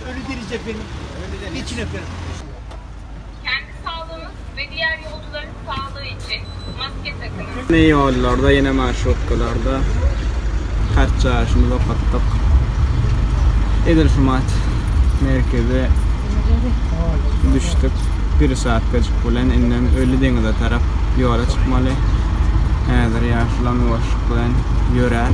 Ölü diri cepeniň içine perip. Kendi saglygyňyz we diğer yolcuların saglygy için maske takınız. Ýene ýollarda, ýene marşrutkalarda kart çaýyşymyzy okatdyk. Edil şu mat merkeze düşdük. Bir saatgajyk bilen indem Ölü deňize tarap ýola çykmaly. Häzir ýaşulam ýuwaşlyk bilen ýörär.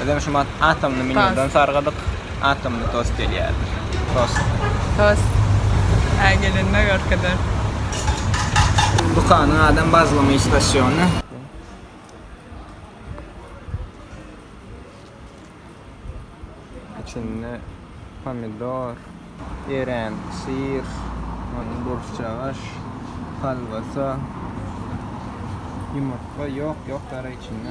Bizem şu mat atomny menýudan sargadyk. Atomny tost gelýärdir. Tost. Tost. Hä gelenine görkezeriz. Dukanyň adam bazlama istasiony. Içinde pomidor, erän syr, ony burçjagaş, kolbasa, ýumurtga ýok ýok dara içinde.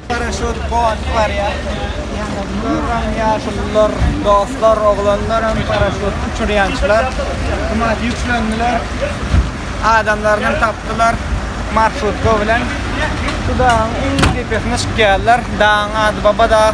Garaşyp gowanyp barýar. Görüň ýaşulular, dostlar, oglanlar hem paraşut uçurýançylar. Gymmat ýüklendiler. Adamlaryny hem tapdylar marşrutka bilen. Şu dagyň iň depesine çykýarlar. Dagyň ady Baba dag.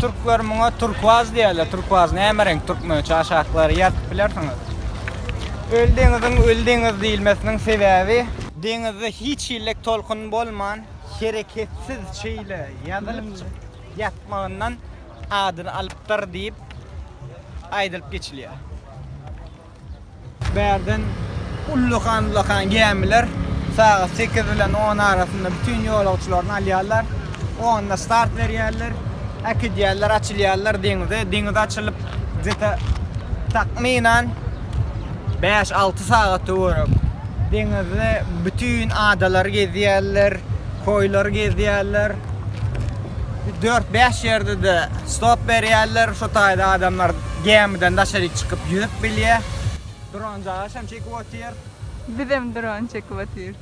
Türkler muňa turkuaz diýerler. Turkuaz näme reňk türkmençe aşaklary ýazyp bilersiňiz. Öli deňiziň öli deňiz diýilmesiniň sebäbi deňizde hiç hillek tolkun bolman hereketsiz şeýle ýazylyp ýatmagyndan adyny alypdyr diýip aýdylyp geçilýär. Bärden ullakan-ullakan gämiler sagat sekiz bilen on arasynda bütin ýolagçylaryny alýarlar. Onda start berýärler, äkidýärler, açylýarlar deňize. Deňize açylyp, gde-ta takmynan bäş-alty sagat töwerek deňizde bütin adalary gezýärler, koýlary gezýärler. Dört-bäş ýerde-de stop berýärler. Şo taýda adamlar Gämiden daşaryk çykyp ýüzüp bilýär. Dron jaýaş hem çekip otyr. Bizem dron çekip otyr.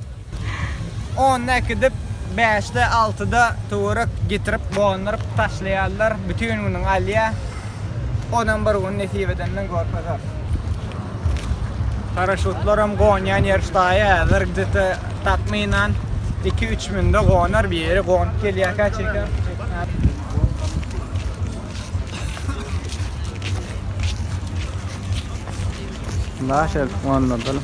Onda äkidip bäşde altyda töwerek getirip gonduryp taşlaýarlar bütin günüň alýar. Onam bir gün nesip edenden görkezers. Paraşutlaram gonýan ýer ştaýy häzir gde-te takmynan iki üç münde gonar bir ýeri gonup gelýärkä çeker. Naşer onladan.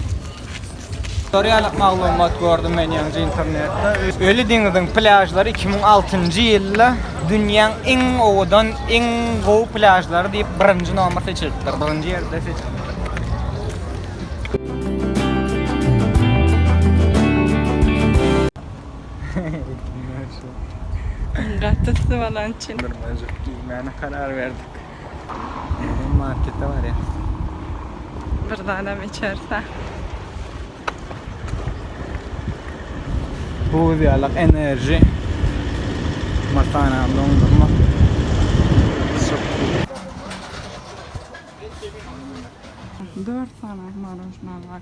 Tutorial maglumat gördüm men ýaňy internetde. Öli deňiziň plýažlary 2006-njy ýylda dünýäň iň owadan, iň gowy plýažlary diýip birinji nomer seçilipdir. Birinji ýerde seçilipdir. Gaty tutup alan üçin. Nurmajyk giýmäne karar berdik. Indi markete barýas. Bir zadam içerse. Buz ýalak enerji. Matana dondurma. Dört sany marojna var.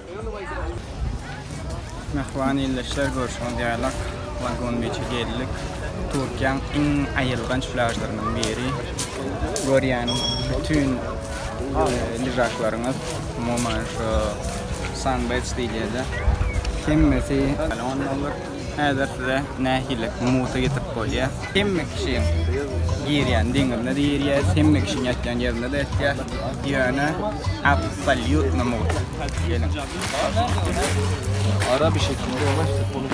Mähriban ildeşler, görşüňiz ýaly, Lagon Biçe geldik. Türkiýäň iň aýylganç plýažlarynyň biri. Görýän bütin lyžaklaryňyz, umuman, şu Sunbeds diýilýär-de, hemmesi Lagon boldy. Häzir size nähili musa getirip bolýar. Hemme kişiň girýän deňizine de girýär, hemme kişiň ýatýan ýerinde de ýatýar. Ýöne absolýutno musa. Geliň. Ara bir şekilde ýawaş sepolup.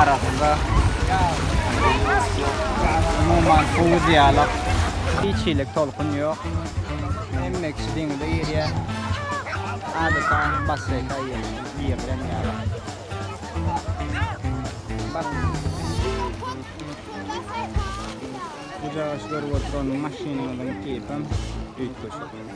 arasynda ýalňyşlyk ýok. Umuman suwy diýalak. Hiç hili tolkun ýok. Hemme kişi deňize girýär. Adeta basseýne girilen ýaly. Bu jaýaşy görüp oturan maşynymyzyň tipem üýtgeşik.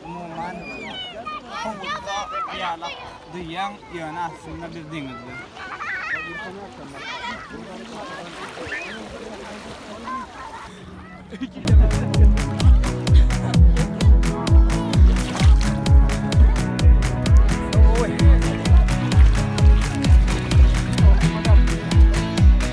Umuman, howpda ýalak duýýaň, ýöne aslynda biz deňizde.